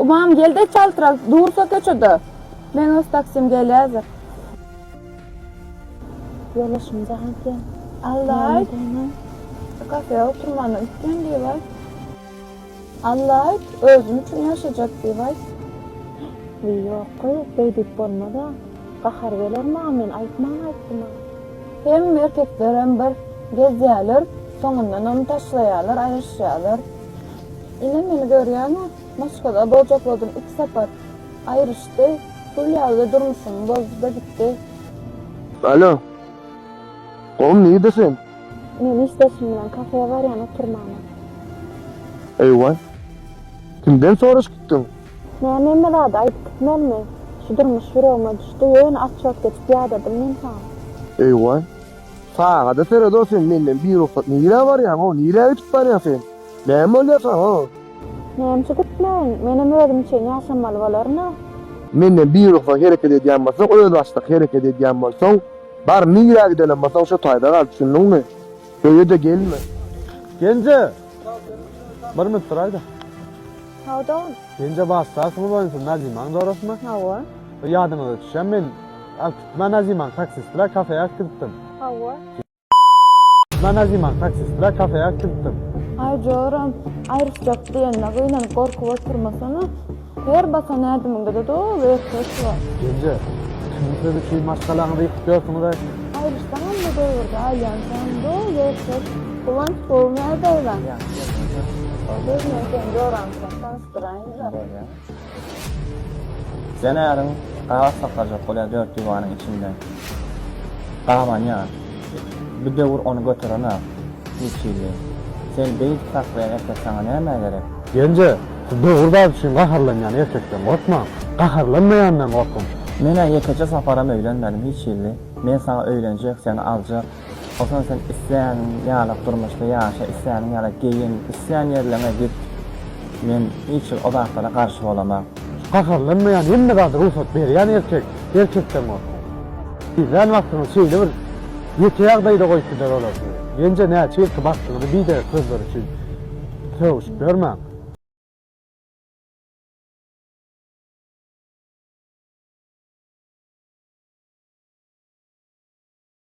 Ymam gelde çaltrak dursa köçede Men öz taksim gelýädir. Ýoldaşym Jahan sen Allaýt şu kafeä oturmana üýtgen diýibaýt. Allaýt özüm üçin ýaşajak diýibaýt. Wiý ýokgy beýdip bolmada gahar geler maňa men aýtman aýtdyma. Hem erkeklerem bir gezýäler soňundanam taşlaýalar aýryşýalar. Ine meni görýäňä. Moskada bojakladym iki sapat. Aýryşdy. Pul ýaly durmuşym bozdy-da gitdi. Alo. Gowum nirde sen? Men işdeşim bilen kafeýa barýan oturmana. Eý-waý. Kimden soraş gitdiň? Näme hemme zady aýdyp gitmelimi? Şu durmuş ýüregime düşdi. Ýöne atçot geçip ýadadym men saňa. Eý-waý. Sagada sered-ow sen menden birugsat nirä barýaň-ow nirä öýtüp barýaň sen? Näme bolýar saňa? Nämçe gitmeýin? Menem özüm üçin ýaşamaly bolaryn-a. Menden birugsat hereket edýän bolsaň, özbaşdak hereket edýän bolsaň, bar, nirä gidenem bolsaň, şo taýda gal, düşündiňmi? Öýe-de gelme. Genje! Bir minut duraý-da. Hawa-da. Genje başda kim bolýansyň, Nazimaň jorasmy? Hawa. Ýadyňyza düşýärmi, men alyp gitmän Nazimaň taksist bilen kafeýa alyp gidipdim. Hawa. Nan aziman taksist bilen kafeýa kiltdim. Aý joram, aýryşjak diýenine gynanyp gorkup oturmasana. Her basan ädimiňde-de doly erkeç bar. Ýeňje, kimin siz üçin maşgalaňyzy ýykyp ýörsiňiz-aý? Aýryşsaňam bu döwürde aýlansaň doly erkek. Guwanç gowy nädäýbäň? Ýagşy, özüňem? Özüňem sen joramsyň, tanyşdyraýyn-da. Ýene äriň gabat saklarjak bolýar dört diwanyň içinde. Gabanýar. Bir döwür ony göteren-ak, Çilçilli. Sen beýik saklaýan erkek saňa nämä gerek? Genje, siz dogry zat üçin gaharlanýan erkekden gorkmaň. Gaharlanmaýandan gorkuň. Men-ä ýekeje saparam öýlenmedim, Hiçilli. Men saňa öýlenjek, seni aljak. Soňra sen islän ýaly durmuşda ýaşa, islän ýaly geýin, islän ýerleriňe git. Men hiç hili o zatlara garşy bolamok. Gaharlanmaýan hemme zada rugsat berýän erkek, erkekden gorkak. Tizlän wagtyňyzy şeýle bir ýeke ýagdaýda goýup gider olar sizi. Menje näçe ýylky bagtyňyzy biderek sözleri üçin sögüşip ýörmäň.